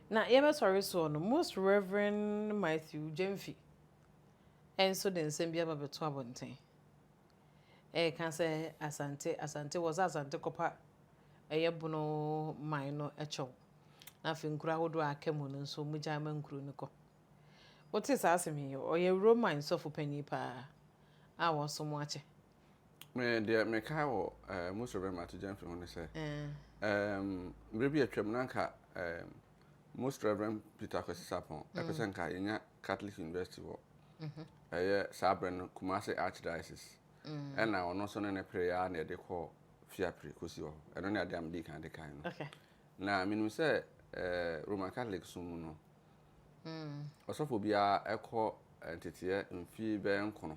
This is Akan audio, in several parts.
Na yɛbɛsɔre soɔ no, Most Rev. Matthew Gyamfi nso de nsɛm bi aba bɛto abɔnten reka sɛ Asante, Asante, wɔ sɛ Asante kɔpa ɛyɛ Bono man no kyɛw na afei nkuro ahodoɔ a aka mu no nso wɔn gyae ma nkuro no kɔ. Wote saa asɛm yi, ɔyɛ Roman sɔfo panin paa a wɔaso mu akyɛ. Me deɛ mekae wɔ ɛɛ eh, Musa Bɛma to Gyamfi ho ne sɛ mmerɛ bi atwam na nka Most Reverend Peter Kwesi Sapon mm. ɛpɛ sɛ nka yɛnya Catholic University wɔ mm-hmm. ɛyɛ saa berɛ no Kumasi Archdiocese mm. ɛna ɔno nso ne ne pere yɛ a na yɛde kɔ fiapere kɔsi hɔ ɛno ne adeɛ a medi kan de kae no na menim sɛ eh, Roman Catholic so mu no mm. ɔsɔfo biara ɛkɔ eh, nteteɛ mfie bɛyɛ nkono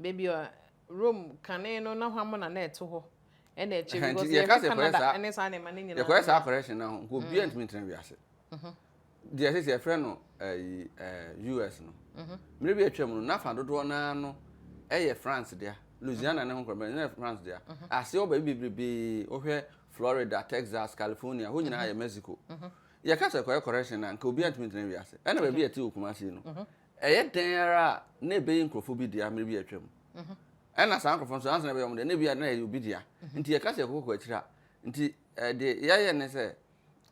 Baabi a Rome kane no na hwammo na na ɛto hɔ ɛna ɛkyɛ bi because yɛka Canada ɛne saa nneɛma ne nyinaa yɛkɔyɛ saa correction na ho nka obiara ntumi ntena wiase deɛ ɛsɛ sɛ yɛfrɛ no US no mmerɛ bi atwam no nafa dodoɔ naa no ɛyɛ France dea Louisiana ne ho nkorɔ bɛn ne France dea aseɛ wɔ baabi bebrebe wohwɛ Florida Texas California hɔ nyinaa yɛ Mexico yɛka sɛ kɔyɛ correction na nka obiara ntumi ntena wiase ɛna baabi ɛte wɔ Kumasi no Ɛyɛ dɛn ara a, na ɛbɛyɛ nkurɔfoɔ bi dea mmerɛ bi a atwam. Ɛna saa nkurɔfoɔ nso, ansa na ɛbɛyɛ wɔn dea no, na ebi a na ɛyɛ obi dea. Nti yɛka sɛ yɛkɔkɔ akyiri a, nti deɛ yɛyɛ ne sɛ,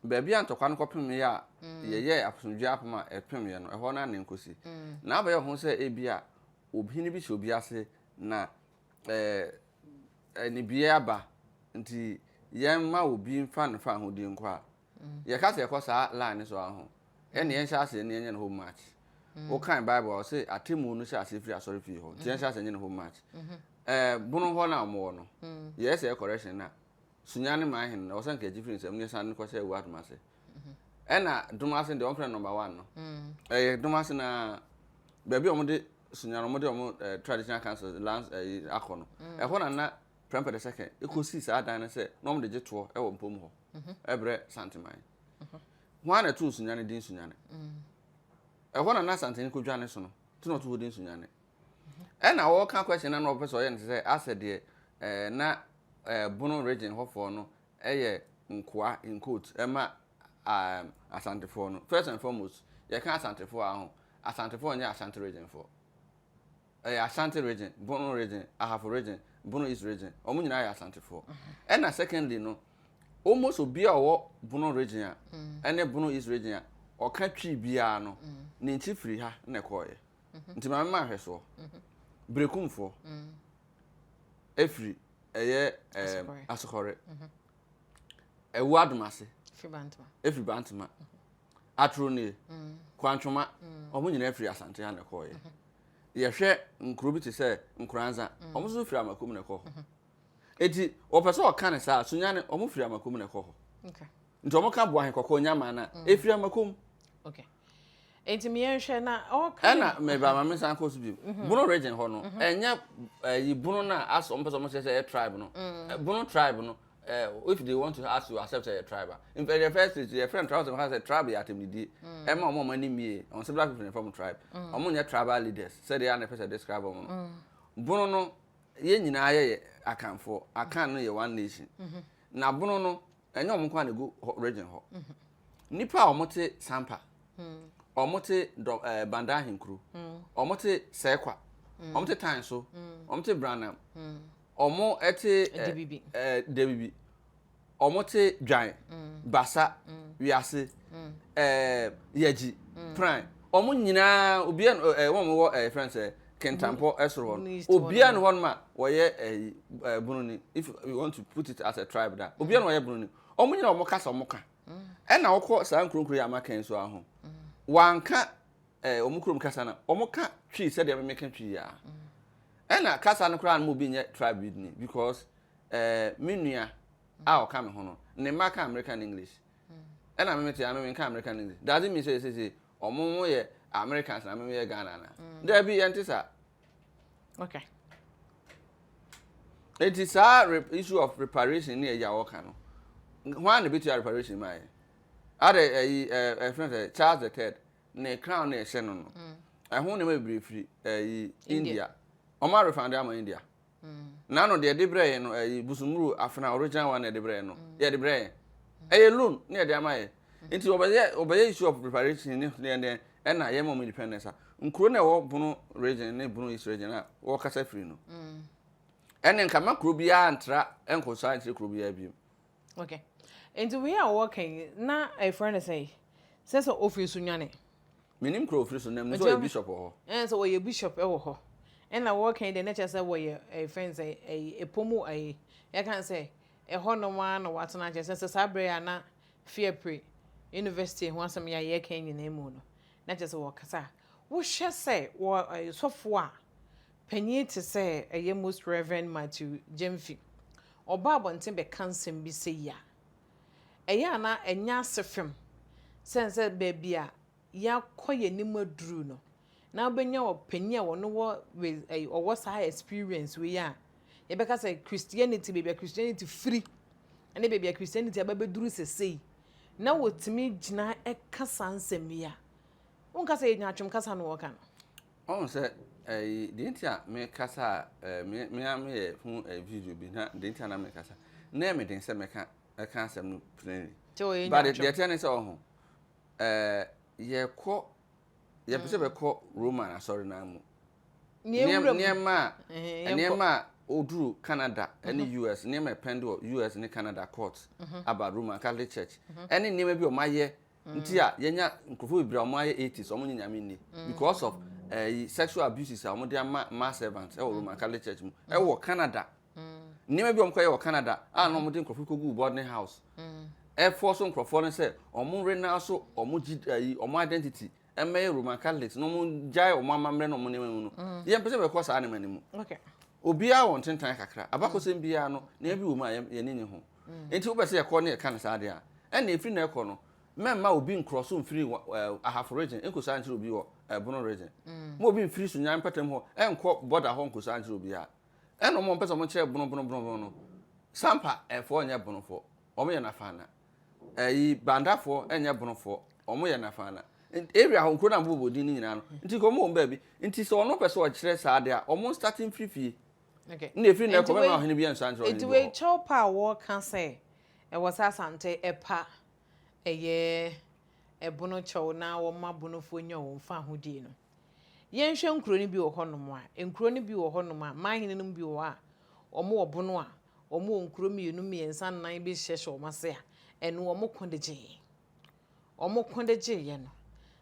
baabi a ntɔkwa no kɔpemeeɛ a yɛyɛɛ asomdwoeɛ apam a ɛpemeeɛ no, ɛhɔ no ara na ɛnkɔsi. Na abɛyɛ ho sɛ ebia ɔhene bi hyɛ obi ase na anibereɛ aba, nti yɛmma obi mfa ne fawohodie nkɔ a, Yɛka sɛ yɛkɔ saa line no so ara ho. Ɛnna yɛnhyɛ aseɛ na yɛnyɛ no home match. Wokan Bible a ɔse atemmuo no hyɛ aseɛ firi asɔre fie hɔ nti yɛnhyɛ aseɛ nyɛ no home match. Ɛɛ bono hɔ no a wɔwɔ no, yɛyɛ sɛ correction na sunya ne man hene na ɔsɛ nka ɛgye firi nsam na yɛsan no kɔhyɛ awua dom ase. Ɛnna dom ase no deɛ wɔmfrɛ no number one no. Ɛyɛ dom ase na baabi a wɔde sunya no wɔde wɔn traditional council lands akɔ no. Ɛhɔ na na Prempeh the second ɛkɔsii saa dan no sɛ na wɔde gye toɔ wɔ mpom hɔ. brɛ Santeman. Hwan na ɛto Nsunyane din Nsunyane? Ɛhɔ na na Santene kɔdwa ne so no nti na ɔto hɔ din Nsunyane. Ɛna ɔka question na na ɔpɛ sɛ ɔyɛ no sɛ asɛ deɛ eh, na eh, Bono region hɔfoɔ no ɛyɛ nkoa in quote ɛma um, Asantefoɔ no. First and foremost, yɛka Asantefoɔ a ho, Asantefoɔ nyɛ Asante regionfoɔ. ɛyɛ Ashanti region, Bono region, Ahafo region, Bono East region. Wɔn nyinaa yɛ Asantefoɔ. Mm-hmm. Ɛna secondly no, almost obi a ɔwɔ Bono region a, mm. ɛne Bono East region a, ɔka twi biara no, mm. ne nkyi firi ha na ɛkɔɔyɛ. Mm-hmm. Nti maame ma ahwɛ soɔ. Mm-hmm. Berekumfoɔ mm. efiri ɛyɛ ɛɛ asokɔre. Ɛwu adomase. Efiri bantama. Atoro nie, Kwantwoma, wɔn nyinaa firi Asante ha na ɛkɔɔeɛ. Mm-hmm. Yɛhwɛ nkuro bi te sɛ Nkoranza, mm. wɔn nso firi Amakom na ɛkɔ hɔ. Mm-hmm. Eti wɔpɛ sɛ ɔka ne saa, Sunyane, wɔn firi Amakom na ɛkɔ hɔ. Nti wɔn ka Boahe Kɔkɔɔ Nyamaa na mm. efiri Amakom. Okay. Eti mi yɛn hwɛ na ɔka. Ɛna mɛba ma mi nsa nkɔ so bi. Mm-hmm. Bono region hɔ no, ɛnyɛ ɛyi Bono na asɔ wɔn pɛ sɛ wɔn kyerɛ sɛ ɛyɛ tribe no. Mm. Bono tribe no, eh, if they want to ask you accept your tribe ah. in fact the first stage your friend tribe sɛ tribe yɛ atɛmdidie ɛma wɔn a wɔn ani mie wɔn sɛ black people na ɛfam tribe wɔn mm. nyɛ tribal leaders sɛdeɛ a na ɛfɛ sɛ describe wɔn no bono no yɛn nyinaa yɛyɛ akanfoɔ akan no yɛ one nation mm-hmm. na bono no ɛnyɛ wɔn nko a na egu region hɔ mm-hmm. nipa a wɔn te sampa mm. wɔn te dɔ ɛɛ eh, banda ahenkuro mm. wɔn te sɛkwa wɔn te tan so wɔn te branam. wɔte wɔte dwan mm. basa mm. wiase mm. eh, yɛgyi pran wɔn nyinaa obiara eh, wɔn wɔ eh, friend sɛ kentampɔ ɛsoro hɔ no obiara no hɔ no ma wɔyɛ ɛyi ɛɛ bununi if you want to put it as a tribe da obiara no wɔyɛ bununi wɔn nyinaa wɔn kasa wɔn ka ɛna wɔkɔ saa nkuronkuro yi ama kɛn so aho wɔanka ɛɛ wɔn kurom kasa na wɔn ka twi sɛdeɛ mmeka twi yia Ɛna kasa no koraa no mo bi nyɛ tribed ni because eh, me nua a ɔka me ho no ne mma ka American English ɛna me mete ame me nka American English does it mean sɛ ɛsese ɔmo mo yɛ Americans na me me yɛ Ghana na mm. daabi yɛnte saa okay eti saa issue of reparation ne ɛyɛ a wɔka no wɔn a na ebetua reparation ma yɛ ada ɛyi ɛɛ ɛfɛn sɛ Charles the third ne crown na ɛhyɛ no no mm. ɛho nneɛma bebree firi ɛyi eh, india wɔn arefande ama india mm. n'ano deɛ ɛde brɛ yɛn no ɛyi eh, busumuru afena original one na ɛde brɛ yɛn no mm. yɛde brɛ yɛn ɛyɛ loan na yɛde ama yɛ nti wɔbɛyɛ wɔbɛyɛ issue of preparation ne deɛ deɛ ɛna yɛn mɔm independence a nkuro na ɛwɔ bono region ne bono east region a wɔkasa firi no ɛne nkama kuro biara ntra nkɔsa nkyerɛ kuro biara bio Ok, nti wei a wɔka yi na ɛfrɛ no sɛn? Sɛ sɛ ofiri so nwane? Menim kura ofiri so na mu sɛ ɔyɛ bishop wɔ hɔ. Ɛn sɛ ɔyɛ bishop wɔ hɔ. Ɛna wɔka yi deɛ na kyerɛ sɛ wɔyɛ ɛfrɛ no sɛ ɛyi ɛpɔ mu ɛyi yɛka no sɛ ɛhɔ nom ara na wɔatena kyerɛ sɛ sɛ saa berɛ a na fiapre university ho asɛm yɛ a yɛka nyinaa mu no na kyerɛ sɛ wɔkasa a wohwɛ sɛ wɔ sɔfoɔ a Panyin te sɛ ɛyɛ Most Rev. Matthew Gyamfi, ɔba abɔnten bɛka nsɛm bi sei a, ɛyɛ a na ɛnyɛ ase fem sɛ ɛnsɛ baabi a yɛakɔ yɛn anim aduru no na wobɛnya ɔpanyin a ɔno wɔ ɔwɔ saa experience wei a yɛbɛka sɛ Christianity baabi a Christianity firi ne baabi a Christianity aba bɛduru sesei na wɔtumi gyina ɛka saa nsɛm yi a wonka sɛ yɛnya atwom kasa no wɔka no Wahu sɛ ɛyi deɛ nti a mekasa a ɛɛ me me ara meyɛ ho ɛɛ video bi na deɛ nti a na mekasa na ɛyɛ me den sɛ mɛka ɛka asɛm no plainly. Te wɔ yɛ But nyaatwom. deɛ teɛ ne sɛ ɔho ɛɛ yɛkɔ yɛpɛ sɛ bɛkɔ Roman asɔre no ara mu. Nea Nneɛm- ewura mu. Nneɛma a Ɛhɛn, yɛnkɔ. nneɛma a oduru Canada ɛne US nneɛma a ɛpɛnde wɔ US ne Canada court aba Roman Catholic Church ɛne nneɛma bi a wɔayɛ nti a yɛnya nkurɔfoɔ bebree a wɔayɛ atheist wɔn nye nyame nni because of ɛyi eh, sexual abuses a wɔn de ama ma servants ɛwɔ roman catholic church mu ɛwɔ canada nneɛma bi a wɔn kɔyɛ wɔ canada a na wɔn de nkurɔfoɔ kɔ gu boarding house ɛfɔ so nkurɔfoɔ no sɛ wɔn rena so wɔn gyi ɛyi wɔn identity ɛmmɛyɛ roman catholics na wɔn gyae wɔn amammerɛ na wɔn nneɛma mu no yɛn mpɛ sɛ bɛkɔ saa nneɛma no mu obiara wɔ ntentan kakra abakɔsɛm biara no nea bi wɔ mu a yɛn ni nye ho nti wobɛ sɛ yɛkɔ ne yɛka no saa deɛ a ɛnna efiri na ɛkɔ no mɛmma obi nkorɔ so mfiri wɔ ahafo region nkosaa nkyerɛ obi wɔ ɛbono region mo obi mfiri so nyan mpatam hɔ ɛnkɔ border hɔ nkosaa nkyerɛ obi a ɛnna wɔn mpɛ sɛ wɔn kyerɛ bono bono bono bono no sampa ɛfoɔ nyɛ bonofoɔ wɔn yɛ nafaana Ɛyi bandafoɔ ɛnyɛ bonofoɔ wɔn yɛ nafaana area hɔ nkuro na bobɔ din no nyinaa no nti nka wɔn wɔn baabi nti sɛ wɔn pɛ sɛ wɔkyerɛ saa adeɛ a wɔn start mfiri fie ne efiri na ɛkɔ mɛma ɔhene bi nsa nkyerɛ ɔhene bi hɔ. Nti wei kyɛw pa a wɔka sɛ ɛwɔ sɛ asante ɛpa ɛyɛ ɛbono kyɛw na wɔn ma bonofoɔ nya wɔn fahodie no. Yɛnhwɛ nkuro no bi wɔ hɔ nom a, nkuro no bi wɔ hɔ nom a, man hene nom bi wɔ hɔ a, wɔn wɔ bono a, wɔn wɔ nkuro mmienu, mmiɛnsa, nnan bi hyehyɛ hyɛ wɔn ase a, ɛno wɔn ko de gye yɛn. Wɔn ko de gye yɛn no.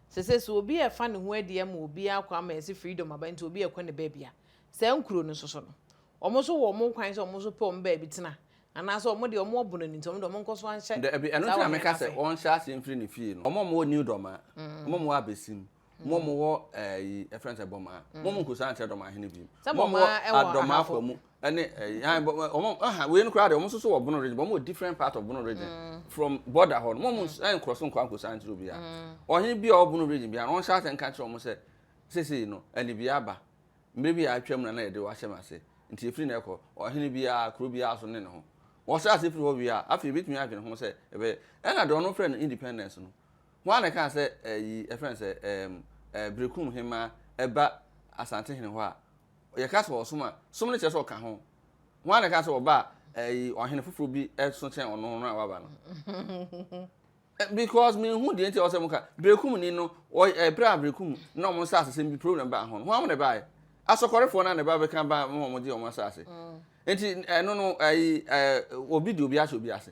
Sese so obi a ɛfa ne ho adi ama obi akɔ ama yɛsi freedom aba nti obi a ɛkɔ ne baabi a, saa nkuro no so so no, wɔn so wɔ wɔn kwan sɛ wɔn so pɛ wɔn baabi tena. Anaasɛ wɔn deɛ wɔn wɔ bono no nti wɔn deɛ wɔn nkɔ so anhyɛ saa wɔn hene no ase. Dabi, ɛno nti na meka sɛ wɔn hyɛ ase mfiri ne fie no. Wɔn a wɔn wɔ New Dɔmaa, wɔn a wɔn wɔ Abesim, mo mo wɔ ɛyi eh, ɛfɛn sɛ bɔmaa mo mo nkosa nkyɛn dɔm ahene bi mo mo adɔm afa mu ɛne ɛyi ayi bɔ wɔn ɛha wei no koraa de wɔn soso wɔ bono region wɔn wɔ different part of bono region mm. from border hɔ no mo mo ɛn nkorɔ so nkɔ nkosa nkyɛn obi a mm. ɔhene bi a ɔwɔ bono region bi a wɔn hyɛ asɛn ka kyerɛ wɔn sɛ sese no ɛne bi aba mmiri bi a atwa mu na na yɛde wahyɛ mu ase nti efiri na ɛkɔ ɔhene bi a kuro bi a so ne ne ho wɔhyɛ ase firi hɔ wie a afei ebitumi adwene ho sɛ ɛbɛyɛ ɛna deɛ ɔno fɛ no independence no Hwan na ɛkaa sɛ ɛyi, ɛfrɛ no sɛ, ɛɛm, ɛɛ, Berekum Hemmaa ɛba Asantehene hɔ a, yɛka sɛ ɔsom a, som no kyerɛ sɛ ɔka ho. Hwan na ɛkaa sɛ ɔba a, ɛyi, ɔhene foforɔ bi ɛso kyɛn ɔno no a waba no? Because menhu deɛ nti a ɔsɛ moka, Berekum ni no, ɔ, ɛberɛ a Berekum na wɔn nsasesɛm bi problem baa ho no, hwan na ɛbaeɛ? Asɔkɔrefoɔ no a na ɛba bɛka ba ma wɔgye wɔn asase. Nti, ɛno no, ɛyi, ɛɛ, obi de obi ahyɛ obi ase.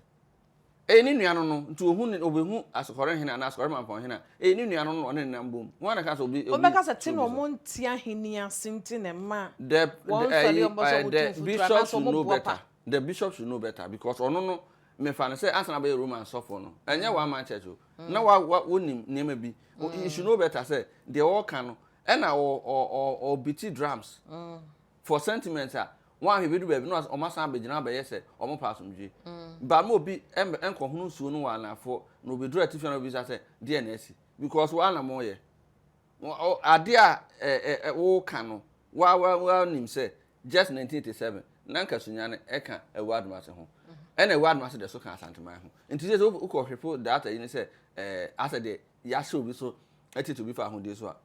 Eye ne nua no no, nti ohu ne, obehu asokɔre hene anaa asokɔre mampɔn hene a, eye ne nua no no na ɔne no nam bom. Hwan na ɛka sɛ obi, obi Wɔbɛka sɛ, te na tumi so? wɔnte ahenni ase nti na ɛma The, wɔn the, nsɔre a ayi, wɔbɔ so eh, wɔtu the mfuturo bishop anaasɛ should wɔn know boapa. better. The bishop should know better because ɔno no, mefa no sɛ ansa na abɛyɛ Roman sɔfoɔ no, ɛnyɛ one man church o. Na wa, wa, wonim nneɛma bi. O- You should know better sɛ deɛ ɔreka no, ɛna ɔ, ɔ, ɔ, ɔbiti drums. for sentiment a wɔanhwɛ bɛdu baabi na wɔn asan abɛgyina abɛyɛ sɛ wɔn pɛ asomdwe ba ma obi nkɔhono nsuo no wɔ anafoɔ na obɛduru atifi na obisa sɛ deɛ na asi because wɔa na moyɛ adeɛ a ɛɛ woka no wɔa wɔa wɔa nim sɛ just 1987 na nka sunyane ɛka ɛwɔ adomase ho ɛna ɛwɔ adomase deɛ so ka asanteman ho nti sɛ wokɔ hwepo data yi ne sɛ ɛɛ asɛ deɛ yɛahyɛ obi so ɛtete obi fa ahodeɛ so a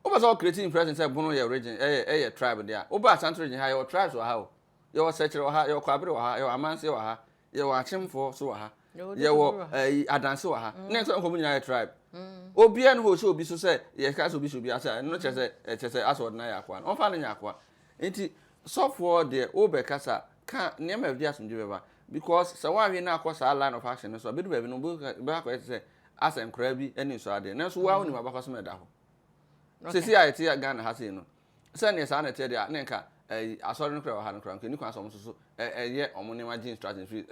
Wopɛ sɛ wo create impression sɛ Bono yɛ region, ɛyɛ, ɛyɛ tribe de a, wo ba Asante region ha, yɛwɔ tribes wɔ ha o. Yɛwɔ Sɛkyerɛ wɔ ha, yɛwɔ Kwabere wɔ ha, yɛwɔ Amanseɛ wɔ ha, yɛwɔ Akyemfoɔ so wɔ ha, yɛwɔ ɛyi, Adanse wɔ ha. Nnɛ sɛ nkɔmɔ nyinaa yɛ tribe. Obiara ne hɔ ɔhyɛ obi so sɛ yɛka sɛ obi hyɛ obi ase a, ɛno kyerɛ sɛ, ɛkyerɛ sɛ asɛ ɔde no ayɛ akoa no. Ɔmfa no nyɛ akoa. Nti, sɔfoɔ deɛ, wobɛkasa, ka nneɛma a ɛde asomdwie bɛba. Because sɛ woanhwɛ na akɔ saa line of action no so a, ɛbɛdu baabi no, wobɛhu sɛ, ɛbɛba akɔyɛ te sɛ asɛ nkoraa bi ani nsɔ adeɛ nanso wo ara wonim abakɔsɛm a ɛda hɔ sɛsi a ɛte Ghana ha sei no sɛ neɛ saa na ɛteɛ deɛ a ne nka ɛyi asɔre no kora wɔ ha no kora nka ɛni kwan sɛ ɔmo soso ɛyɛ ɔmo nneɛma gye instruction firi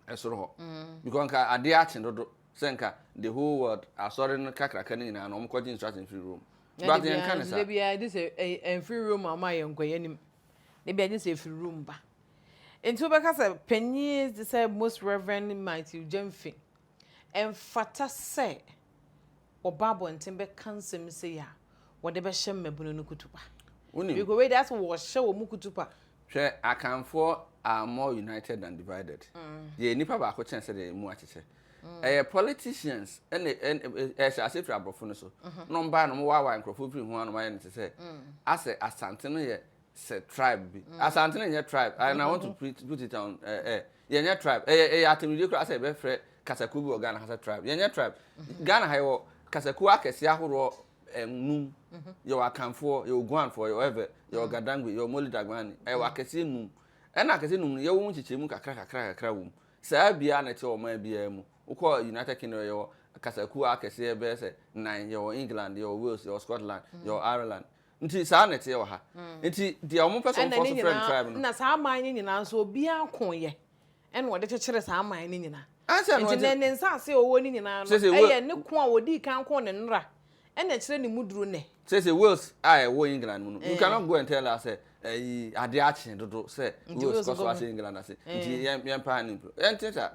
ɛsoro hɔ mm. because nka adeɛ akye dodo sɛ nka the whole world asɔre no kakraka no nyinaa no ɔmo kɔgye instruction firi Rome but yɛn nka ne saa ɛbi a ɛde sɛ ɛmfiri Rome ama yɛn nkɔ yɛn anim ɛbi a ɛde sɛ ɛfiri Rome ba nti wobɛka sɛ panyin sɛ most reverend Matthew Gyamfi Ɛmfata sɛ wɔba abɔnten bɛka nsɛm sei a wɔde bɛhyɛ mmabunu no kutupa. Wonim. Because wei deɛ asɛ wɔhyɛ wɔn kutupa. Hwɛ Akanfoɔ are more united than divided. Yɛyɛ nnipa baako kyɛn sɛdeɛ yɛn mu akyekyɛ. Ɛyɛ politicians ɛna ɛhyɛ aseɛ firi aborɔfo no so. Na wɔn baeɛ na wɔn waawaa nkurɔfoɔ firi ho a na wɔayɛ no te sɛ asɛ Asante no yɛ sɛ tribe bi mm. asante no nyɛ tribe and i want to mm-hmm. put it on eh, eh, yɛnyɛ tribe ɛyɛ eh, ɛyɛ eh, atemidie koraa sɛ yɛbɛfrɛ kasakuo bi wɔ ghana ha sɛ tribe yɛnyɛ tribe mm-hmm. ghana ha yɛwɔ kasakuo akɛseɛ ahoroɔ num mm-hmm. yɛwɔ akanfoɔ yɛwɔ guanfoɔ yɛwɔ ɛvɛ yɛwɔ mm. gadangbe yɛwɔ moli dagbani ɛwɔ mm. akɛseɛ num ɛna akɛseɛ num no yɛwɔ mu nkyekyɛ mu kakra kakra kakra wɔ mu saa biara na ɛte ɔman biara mu wokɔ united kingdom yɛwɔ kasakuo akɛseɛ bɛyɛ sɛ nan yɛwɔ england yɛwɔ wales yɛwɔ scotland yɛwɔ ireland Nti saa na ɛteɛ wɔ ha. Nti deɛ wɔn pɛ sɛ wɔn kɔ so frɛ no tribe no. Na saa aman no nyinaa nso obiara ko yɛ ɛna ɔde kyekyere saa aman no nyinaa. Ansa no nti ne nsaase a ɔwɔ no nyinaa no ɛyɛ ne ko a ɔdii kan ko ne nnora ɛna ɛkyerɛ ne mu duro nnɛ. Sɛ sɛ Wales a ɛwɔ England mu no you cannot go and tell us sɛ ɛyi adeɛ akye dodo sɛ Wales kɔ so ahyɛ England ase nti yɛn yɛn paa ne mpire yɛn te saa.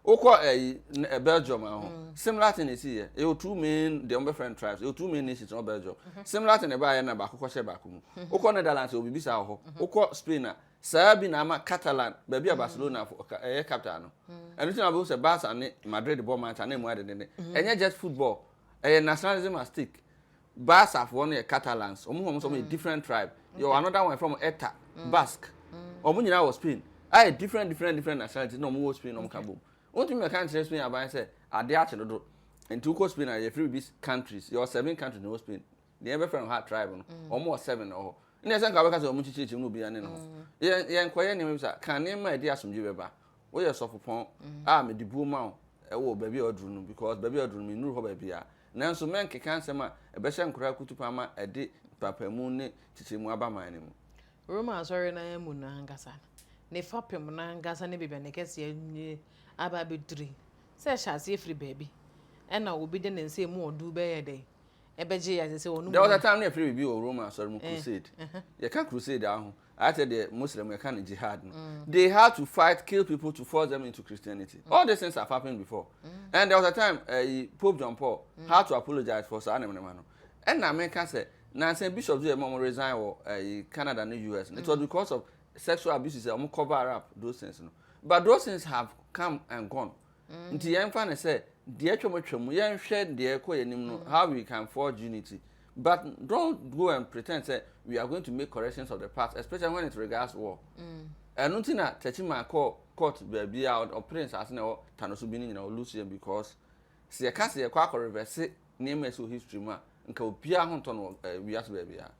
wokɔ ɛyi eh, eh, belgium ɛho eh, mm. similar thing esi yɛ ɛyɛ two main deɛ wɔbɛ friend tribes ɛyɛ two main nations ɛwɔ belgium mm-hmm. similar thing ɛbaa yɛ na baako kɔhyɛ baako mu mm-hmm. wokɔ netherlands ɛwɔ bibi saa wɔ hɔ mm-hmm. wokɔ spain a saa bi na ama catalan baabi a mm. barcelona ɛyɛ eh, capital no mm. ɛno ti na bɛ sɛ barca ne madrid bɔ match ana emu adedede ɛnyɛ just football ɛyɛ nationalism at stake Basque foɔ no yɛ Catalans, wɔn ho wɔn sɛ wɔn yɛ different tribe. Yɛ wɔ another one yɛfrɛ wɔn Eta, Basque. Wɔn nyinaa wɔ Spain. Ayɛ different different different nationalities na wɔn wɔ Spain na wɔn ka bom. Wontumi mɛka nkyerɛ Spain aban sɛ adeɛ akye dodo. Nti wokɔ Spain a yɛfrɛ bibi countries. Yɛwɔ seven countries na ɛwɔ Spain. Deɛ yɛbɛfrɛ no ha tribe no, wɔn wɔ seven wɔ hɔ. Nneɛ sɛ nka wobɛka sɛ wɔn nkyekyere kyim na obiara ne ne ho. Yɛn yɛnkɔyɛ nneɛma bi saa. Ka nneɛma a ɛde asomdwoe bɛba. Woyɛ sɔfopɔn a mede buo ma wo wɔ baabi a waduru no because baabi a waduru no mennuru hɔ baabiara. Nanso mɛnkeka nsɛm a ɛbɛhyɛ nkoraa kutupa ma ɛde mpaapaemu ne nkyekyɛmu aba man no mu. Roma asɔre no ara mu no ankasa, ne fapem no ankasa ne baabi a ne kɛseyɛ no aba abɛduru yi, sɛ ɛhyɛ aseɛ firi baabi ɛna obi de ne nsa emu ɔduru bɛyɛ dɛn ɛbɛgye yɛ? Ɛsɛ sɛ wɔnom. There was a time na yɛfrɛ biribi wɔ Roma asɔre mu crusade. Yɛka crusade a ho ayɛ sɛ deɛ muslim yɛka no jihad no mm. they had to fight kill people to force them into christianity mm. all these things have happened before mm. and there was a time uh, pope john paul mm. had to apologize for saa nemenema no ɛna meka sɛ nansa bishop yɛ mɔm resign wɔ uh, canada ne us mm. it was because of sexual abuse sɛ ɔmo cover up those things no but those things have come and gone Nti yɛmfa no sɛ deɛ atwam atwam, yɛnhwɛ deɛ ɛkɔ yɛn anim no, how we can forge unity. But don't go and pretend sɛ we are going to make corrections of the past, especially when it regards war. Ɛno nti na Techiman kɔɔ court baabi a ɔpere nsaase na ɛwɔ Tano so bi no nyinaa, ɔlose yɛn because sɛ yɛka sɛ yɛkɔ akɔ reverse nneɛma a ɛsi wɔ history mu a, nka obiara ho ntɔ no wɔ eh, wiase baabiara.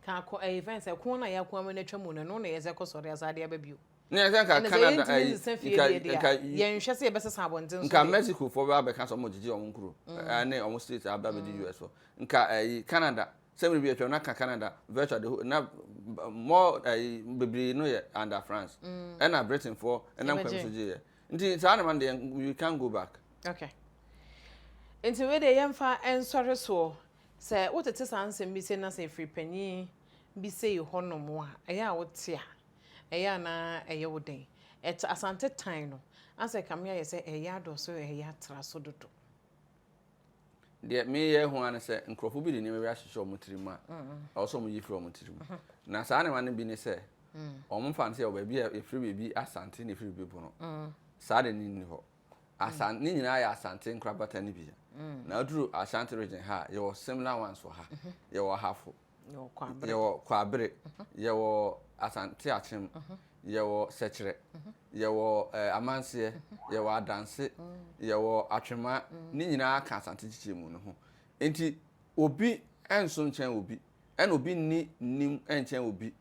Ka kɔ eh, events ɛko na yɛako ama no atwa mu no, ɛno na yɛsɛ kɔ sɔre asa ade aba bio. Ne yɛn sɛ nka Canada ɛna sɛ yɛntumi eh, nsesa fie deɛ deɛ a yɛnhwɛ sɛ yɛbɛsesa abɔnten so nka Mexico foɔ bɛ abɛka sɛ wɔn gyegye wɔn nkuro mm. eh, ne wɔn state abɛ abɛdi mm. US foɔ nka ɛyi eh, Canada sɛmiri bi atwam na ka Canada virtual de ho na more ɛyi bebree no yɛ under France mm. ɛna mm. Britain foɔ ɛna nkwa bi so gye yɛ nti saa na ma deɛ we can go back. okay nti wei deɛ yɛmfa nsɔre soɔ sɛ wotete saa nsɛm bi sɛ na sɛ ɛfiri panyin bi sɛ yɛ hɔ nom a, ɛyɛ a wo te a, ɛyɛ a na ɛyɛ wo dɛn? Ɛte Asante tan no, asɛ kame ayɛ sɛ ɛyɛ adɔɔso, ɛyɛ atra so dodo. Deɛ me yɛ ho ara ne sɛ, nkorɔfoɔ bi de nneɛma bi ahyehyɛ wɔn tiri mu a, ɛwɔ sɛ wɔn yi firi wɔn tiri mu. Na saa nneɛma no bi ne sɛ, wɔn mfa no sɛ yɛwɔ baabi a yɛfrɛ baabi Asante na yɛfrɛ baabi Bono. Saa deɛ ne nni hɔ. Asan ne nyinaa yɛ Asante nkorabata no bi. Na aduru Ashanti region ha a, yɛwɔ similar ones wɔ ha. Yɛwɔ Ahafo. Yɛwɔ Kwabere. Yɛwɔ Kwabere. Yɛwɔ Asante Akyem. Yɛwɔ Sɛkyerɛ. Yɛwɔ ɛɛ Amanseɛ. Yɛwɔ Adanse. Yɛwɔ Atwema. Ne nyinaa ka Asante nkyekyɛmu no ho. Nti obi nso nkyɛn obi, ɛna obi nni nim nkyɛn obi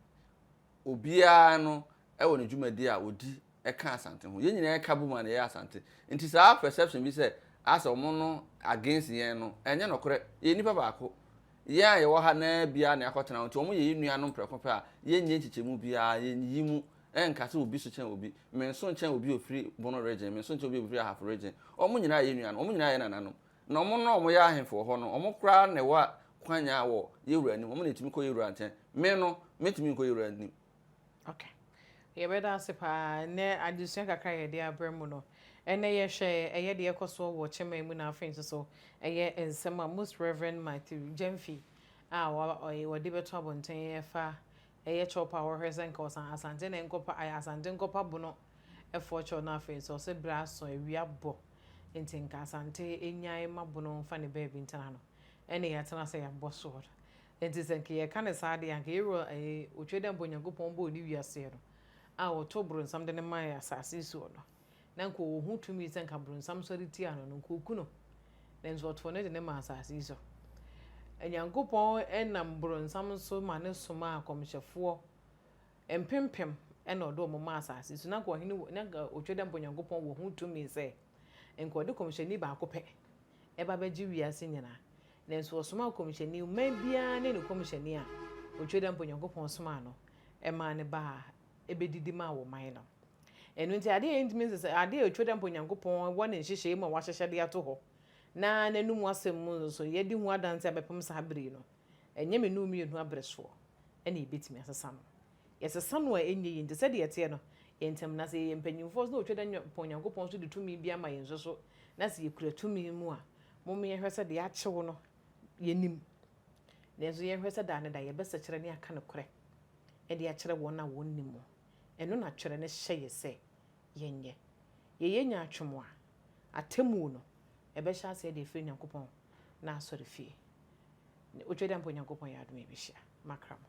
Obiara no wɔ ne dwumadi a ɔdi ka Asante ho. Yɛn nyinaa ka bom a na yɛyɛ Asante. Nti saa perception bi sɛ asɛ wɔn no against yɛn no, ɛnyɛ nokorɛ. Yɛyɛ nnipa baako. Yɛn a yɛwɔ ha nnɛ ara biara na yɛakɔtena hɔ. Nti wɔyɛ yɛn nuanom prɛko pɛ a, yɛnyɛ nkyekyɛmu biara, yɛnyiyi mu. Ɛnka sɛ obi so kyɛn obi. Menso nkyɛn obi a ɔfiri Bono Region, menso nkyɛn obi a ɔfiri Ahafo Region. Wɔn nyinaa yɛ yɛn nuanom. Wɔn nyinaa yɛ yɛn nananom. Na wɔn no a wɔyɛ ahemfo wɔ hɔ no, wɔn koraa na ɛwɔ kwanya wɔ yɛn wura anim, wɔn na ɛtumi kɔ yɛn wura nkyɛn. Me no, mentumi nkɔ yɛn wura anim. Okay. Yɛbɛda ase paa. Ɛnɛ adesua kakra a yɛde abrɛ mu no, ɛnɛ yɛhwɛ ɛyɛ deɛ ɛkɔ soɔ wɔ Kyɛmɛ mu na afei nso so ɛyɛ nsɛm a Most Rev. Matthew Gyamfi a wɔde bɛto abɔnten ɛfa ɛyɛ kyɛwpa a wɔhwɛ sɛ nka ɔsan Asante na ɛnkɔpa ayɛ Asante nkɔpa bono ɛfoɔ kyɛw na afei nso ɔsɛ berɛ asɔ awia bɔ nti nka Asante nyae ma bono mfa ne baabi ntena no ɛne yɛatena sɛ yɛabɔ soɔ no nti sɛ nka yɛka no saa deɛ anka yɛwura ɛɛ otwa dɛ mpo Nyankopɔn bɔɔ ne wiaseɛ no a ɔtoo bronsam de no mae asase yi soɔ no na nka ɔwɔ ho tumi sɛ nka bronsam sɔre tia no no nka ɔku no nanso ɔtoo no de no maa asase yi so Nyankopɔn nam bronsam so ma no somaa akɔmhyɛfoɔ Mpempem na ɔde wɔn maa asase so. Na anka ɔhene wɔ, na anka otwa dɛ mpo Onyankopɔn wɔ ho tumi sɛ anka ɔde kɔmhyɛni baako pɛ ba abɛgye wiase nyinaa. Nanso ɔsomaa kɔmhyɛni, ɔman biara ne ne kɔmhyɛni a otwa dɛ mpo Onyankopɔn somaa no maa no baa bɛdidi maa wɔn man no. Ɛno nti adeɛ a yɛntumi nse sɛ, adeɛ a otwa dɛ mpo Onyankopɔn wɔ ne nhyehyɛe mu a wahyehyɛ de ato hɔ, na n'anom asɛm mu nso yɛde hu adanse abɛpem saa bere yi no. Ɛnyɛ me ne wo mmienu abere soɔ na yɛbɛtumi asesa no. Yɛsesa no a, ɛnyɛ yie. Nti sɛdeɛ ɛteɛ no, yɛn ntam, na sɛ yɛyɛ mpanimfoɔ nso na wɔtwa da pɔn Nyankopɔn so de tumi bi ama yɛn nso so, na sɛ yɛkura tumi mu a, mom yɛnhwɛ sɛ deɛ akye wo no, yɛnim. Nanso yɛnhwɛ sɛ daa ne da yɛbɛsɛkyerɛ ne aka nokorɛ de akyerɛ wɔn a wɔnnim mu. Ɛno na Twerɛ no hyɛ yɛ sɛ yɛnyɛ. Yɛyɛ nya atwom a, atemmuo no, ɛbɛhyɛ aseɛ de afiri Nyankopɔn n'asɔrefie. Ne Otwadiampo Nyankopɔn yɛ adom a ɛbɛhyia m'akra mu.